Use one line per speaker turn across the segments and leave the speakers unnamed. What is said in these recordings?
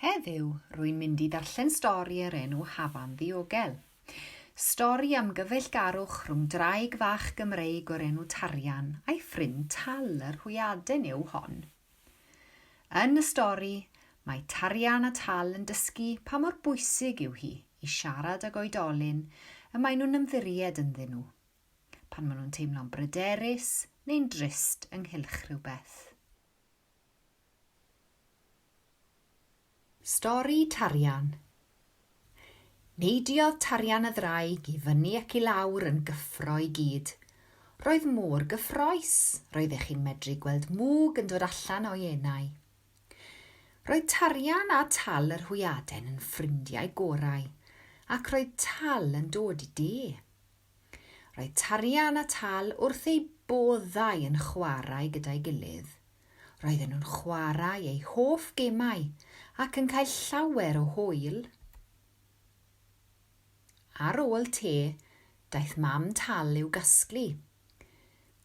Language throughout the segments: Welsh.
Heddiw, rwy'n mynd i ddarllen stori o'r enw Hafan Ddiogel. Stori am gyfeillgarwch rhwng draig fach Gymreig o'r enw Tarian a'i ffrind Tal, yr hwyaden yw hon. Yn y stori, mae Tarian a Tal yn dysgu pa mor bwysig yw hi i siarad ag oedolyn y maen nhw'n ymddiried ynddyn nhw, pan maen nhw'n teimlo'n bryderus neu'n drist ynghylch rhywbeth. Stori Tarian Neidiodd Tarian y ddraig i fyny ac i lawr yn gyffro i gyd. Roedd mor gyffrous, roeddech chi'n medru gweld mwg yn dod allan o'i enau. Roedd Tarian a Tal yr Hwyaden yn ffrindiau gorau, ac roedd Tal yn dod i de. Roedd Tarian a Tal wrth eu boddau yn chwarae gyda'i gilydd. Roedden nhw'n chwarae eu hoff gemau ac yn cael llawer o hwyl. Ar ôl te, daeth mam Tal i'w gasglu.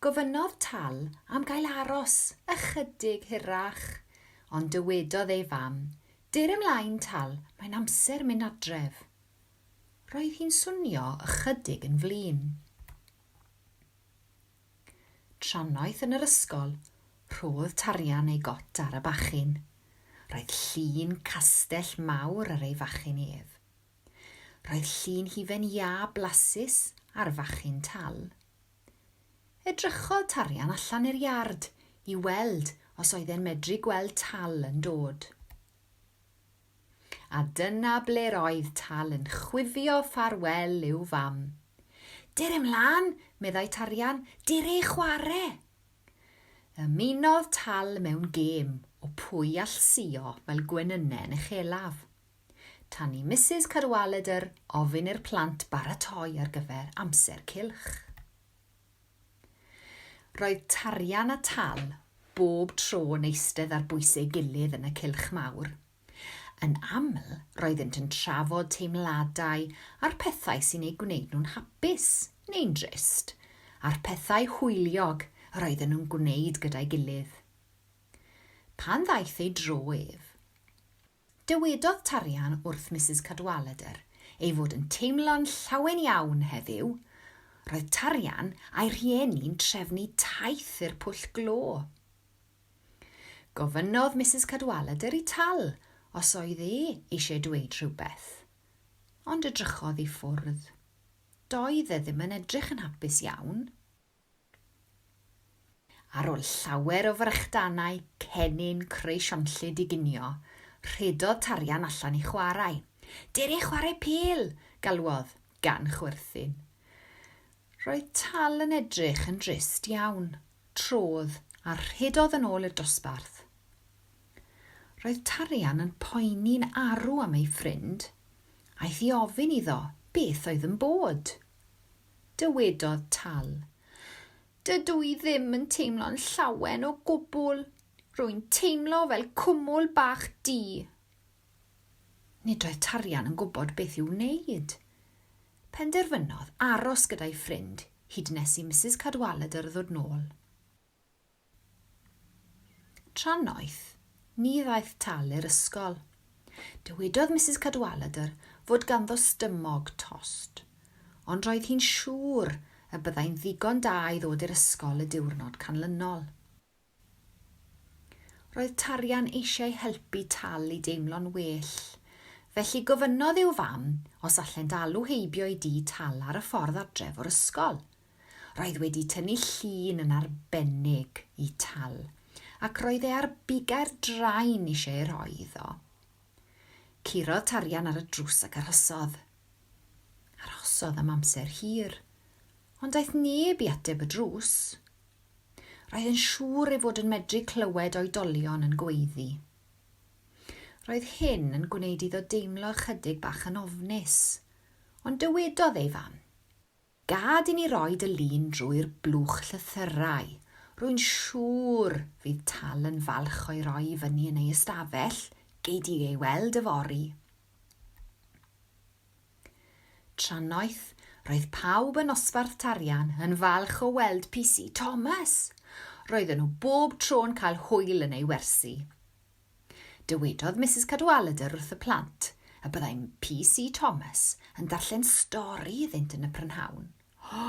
Gofynnodd Tal am gael aros ychydig hirach, ond dywedodd ei fam, Dur ymlaen, Tal, mae'n amser mynd adref. Roedd hi'n swnio ychydig yn flin. Trannoeth yn yr ysgol, rhodd Tarian ei got ar y bachyn. Roedd llun castell mawr ar ei fachyn ef. Roedd llun hufen iâ blasus ar fachyn Tal. Edrychodd Tarian allan i'r iard i weld os oedd e'n medru gweld Tal yn dod. A dyna ble'r oedd Tal yn chwifio ffarwel i'w fam. Dere 'mlan, meddai Tarian, dere i chware! Ymunodd Tal mewn gêm o pwy all suo fel gwenyne yn uchelaf. Tan i Misus Cadwaladr ofyn i'r plant baratoi ar gyfer amser cylch. Roedd tarian a tal bob tro yn eistedd ar bwys ei gilydd yn y cylch mawr. Yn aml, roeddynt yn trafod teimladau a'r pethau sy'n eu gwneud nhw'n hapus, neu'n drist, a'r pethau hwyliog yr oedden nhw'n gwneud gyda'i gilydd. Pan ddaeth ei dro ef, Dywedodd Tarian wrth Misus Cadwaladr ei fod yn teimlo'n llawen iawn heddiw, Roedd Tarian a'i rhieni'n trefnu taith i'r pwll glo. Gofynnodd Misus Cadwaladr i Tal os oedd e eisiau dweud rhywbeth, ond edrychodd i ffwrdd. Doedd e ddim yn edrych yn hapus iawn. Ar ôl llawer o frychdanau cennin creu sionllyd i ginio, rhedodd tarian allan i chwarae. Dere chwarae pêl! galwodd, gan chwerthin. Roedd Tal yn edrych yn drist iawn. Trodd a rhedodd yn ôl i'r dosbarth. Roedd tarian yn poeni'n arw am ei ffrind. Aeth i ofyn iddo beth oedd yn bod. Dywedodd Tal, Dydw i ddim yn teimlo'n llawen o gwbl, rwy'n teimlo fel cwmwl bach du. Nid oedd Tarian yn gwybod beth i'w wneud. Penderfynodd aros gyda'i ffrind hyd nes i Misus Cadwaladr ddod nôl. Tra noeth, ni ddaeth Tal i'r ysgol. Dywedodd Misus Cadwaladr fod ganddo stymog tost, ond roedd hi'n siŵr y byddai'n ddigon da i ddod i'r ysgol y diwrnod canlynol. Roedd Tarian eisiau helpu Tal i deimlo'n well, felly gofynnodd i'w fam os allent alw heibio i dŷ Tal ar y ffordd adref o'r ysgol. Roedd wedi tynnu llun yn arbennig i Tal, ac roedd e ar bigau'r drain eisiau ei rhoi iddo. Curodd tarian ar y drws ac arhosodd. Arhosodd am amser hir, ond daeth neb i ateb y drws. Roedd yn siŵr ei fod yn medru clywed oedolion yn gweiddi. Roedd hyn yn gwneud iddo deimlo ychydig bach yn ofnus, ond dywedodd ei fam, Gad i ni roi dy lun drwy'r blwch llythyrau. Rwy'n siŵr fydd Tal yn falch o'i roi i fyny yn ei ystafell, gei di ei weld yfory. Tra noeth, roedd pawb yn Nosbarth Tarian yn falch o weld PC Thomas. Roedden nhw bob tro'n cael hwyl yn ei wersi. Dywedodd Misus Cadwaladr wrth y plant y byddai PC Thomas yn darllen stori iddynt yn y prynhawn. O!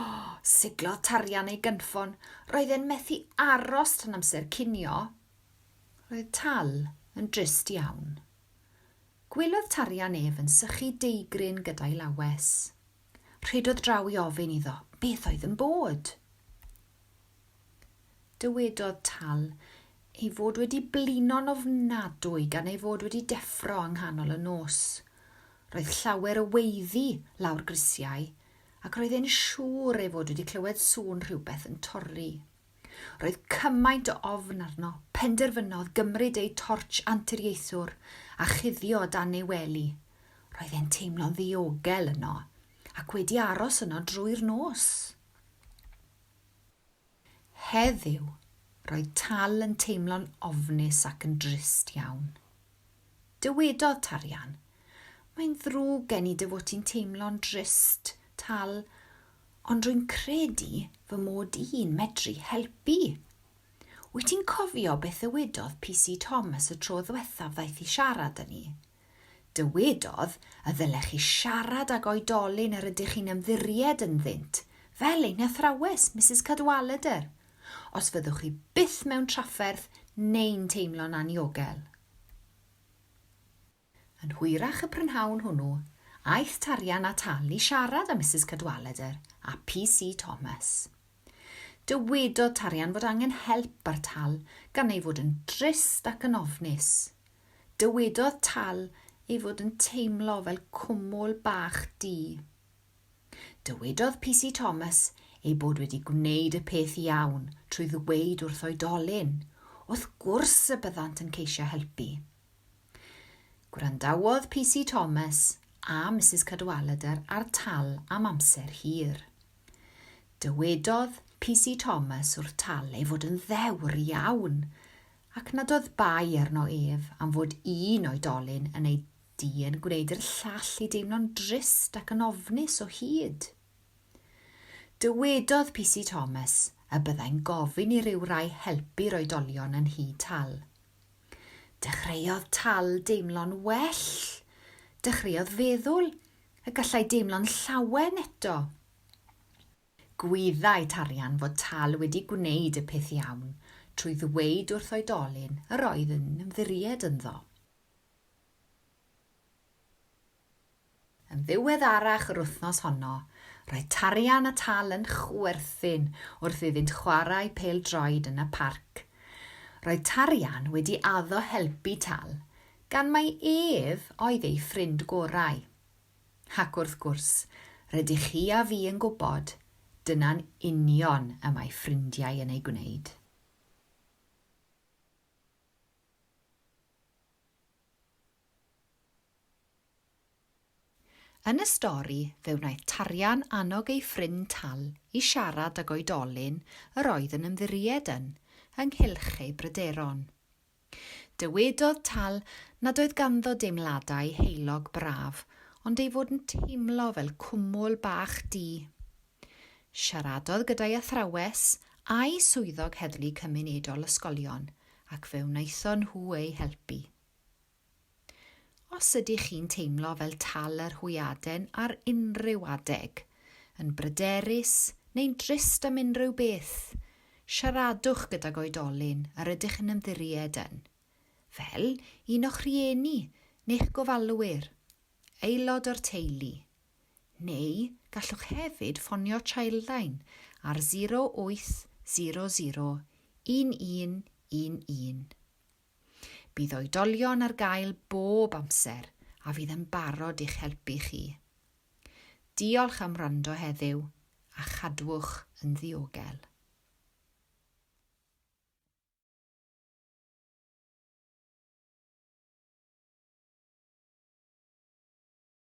siglodd tarian ei gynffon, roedd e'n methu aros tan amser cinio. Roedd Tal yn drist iawn. Gwelodd tarian ef yn sychu deigryn gyda'i lawes. Rhedodd draw i ofyn iddo beth oedd yn bod. Dywedodd Tal ei fod wedi blino'n ofnadwy gan ei fod wedi deffro yng nghanol y nos. Roedd llawer o weiddi lawr grisiau ac roedd e'n siŵr ei fod wedi clywed sŵn rhywbeth yn torri. Roedd cymaint o ofn arno, penderfynodd gymryd eu tortsh anturiaethwr a chuddio o dan ei wely. Roedd e'n teimlo'n ddiogel yno, ac wedi aros yno drwy'r nos. Heddiw, roedd Tal yn teimlo'n ofnus ac yn drist iawn. Dywedodd Tarian, Mae'n ddrwg gen i dy fod ti'n teimlo'n drist, Tal, ond rwy'n credu fy mod i'n medru helpu. Wyt ti'n cofio beth ddywedodd PC Thomas y tro ddwethaf ddaeth i siarad â ni? Dywedodd y ddylech chi siarad ag oedolyn yr ydych chi'n ymddiried ynddynt, fel ein hathrawes, Misus Cadwaladr. os fyddwch chi byth mewn trafferth neu'n teimlo'n anniogel. Yn hwyrach y prynhawn hwnnw, aeth Tarian at Al i siarad â Misus Cadwaladr a PC Thomas. Dywedodd Tarian fod angen help ar Tal gan ei fod yn drist ac yn ofnus. Dywedodd Tal ei fod yn teimlo fel cwmwl bach du. Dywedodd PC Thomas ei bod wedi gwneud y peth iawn trwy ddweud wrth oedolyn, wrth gwrs y byddant yn ceisio helpu. Gwrandawodd PC Thomas a Misus Cadwaladr ar Tal am amser hir. Dywedodd PC Thomas wrth Tal ei fod yn ddewr iawn ac nad oedd bai arno ef am fod un oedolyn yn ei Di yn gwneud i'r llall i deimlo'n drist ac yn ofnus o hyd. Dywedodd PC Thomas y byddai'n gofyn i ryw rai helpu'r oedolion yn nhŷ Tal. Dechreuodd Tal deimlo'n well. Dechreuodd feddwl y gallai deimlo'n llawen eto. Gwyddai Tarian fod Tal wedi gwneud y peth iawn trwy ddweud wrth oedolyn yr oedd yn ymddiried ynddo. Yn ddiweddarach yr wythnos honno, roedd Tarian a Tal yn chwerthin wrth iddynt chwarae pêl-droed yn y parc. Roedd Tarian wedi addo helpu Tal, gan mai ef oedd ei ffrind gorau. Ac wrth gwrs, rydych chi a fi yn gwybod, dyna'n union y mae ffrindiau yn ei gwneud. Yn y stori, fe wnaeth Tarian annog ei ffrind Tal i siarad ag oedolyn yr oedd yn ymddiried yn ynghylch ei bryderon. Dywedodd Tal nad oedd ganddo deimladau heulog braf ond ei fod yn teimlo fel cwmwl bach du. Siaradodd gyda'i athrawes a'i swyddog heddlu cymunedol ysgolion ac fe wnaethon nhw ei helpu. Os ydych chi'n teimlo fel tal yr hwyaden ar unrhyw adeg, yn bryderus neu'n drist am unrhyw beth, siaradwch gydag oedolyn yr ydych yn ymddiried yn, fel un o'ch rhieni neu'ch gofalwyr, aelod o'r teulu, neu gallwch hefyd ffonio Childline ar 0800 1111. Bydd oedolion ar gael bob amser a fydd yn barod i'ch helpu chi. Diolch am wrando heddiw a chadwch yn ddiogel.